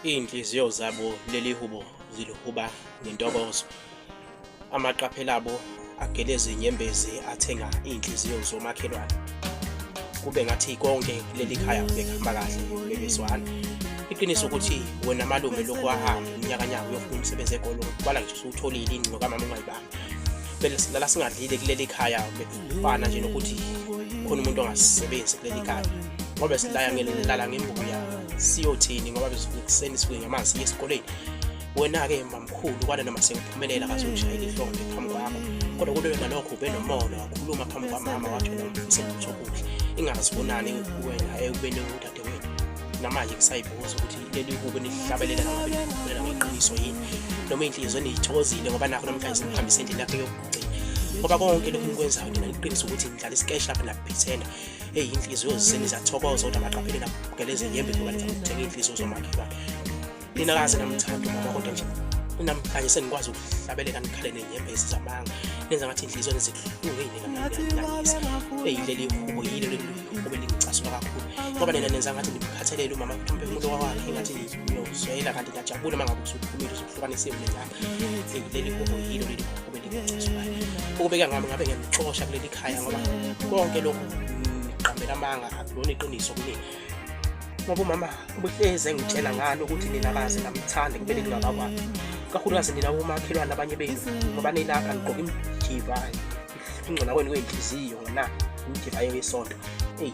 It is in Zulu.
Iinhliziyo zabo leli hubo zilihuba ngentokozo. Amaqaphela abo ageleza inyembezi athenga iinhliziyo zomakhelwane. Kube ngathi konke leli khaya bekuhamba kahle bebezwana. Iqiniso ukuthi wena malume lokhu wahamba unyakanyaka uyofuna umsebenzi egolo kwala ngisho usuwutholile ingqo kamama ungayibanga. Bela singadlile kuleli khaya fana nje nokuthi khona umuntu ongasebenzi kuleli kaya ngoba silaya ngelala ngembuya siyothini ngoba besekuseni sibuye ngamanzi siye esikoleni wena-ke mamkhulu kwale noma sengiphumelela kazokushayela ihlombe phambi kwakho kodwa kube ngalokho ube nomona wakhuluma phambi kwamama wathi wena ngifise lutho kuhle ingazibonani wena ekubeni udadewethu namanje ngisayibuza ukuthi leli kube nihlabelela noma ngiqiniso yini noma inhliziyo niyithokozile ngoba nakho namhlanje simhambisa endlini yakhe ngoba konke lokhu ngikwenzayo ngina ngiqinisa ukuthi ngidlala isikeshi lapha nakuphithela eyi inhliziyo ziseni zathokoza kodwa baqaphele nabukela ezinyembe ngoba niza kuthenga iy'nhliziyo zomakhelwane nina kaze namthanda umama kodwa nje namhlanje sengikwazi ukuhlabeleka nikhale nenyembezi zamanga nenza ngathi inhliziyo nezikuhlungeyinenanisa eyi leli hubo yilo leli hubo elingicasula kakhulu ngoba nina nenza ngathi ndimkhathalele umama mthombe umuntu wakwakhe ngathi ngiyozwela kanti ngiyajabula uma ngabe usuphumile usuhlukanisiwe nenyanga ukubeka ngami ngabe ngiyamxosha kuleli khaya ngoba konke lokhu ngiqambela amanga akulona iqiniso kumina ngoba umama ubuhlezi engitshela ngalo ukuthi nina kaze ngamthanda kumele ngingakakwazi kakhulukazi nina bomakhelwane abanye benu ngoba nilapha nigqoke imijiva ingcona kwenu kwenhliziyo ngona imijiva yo yesonto eyi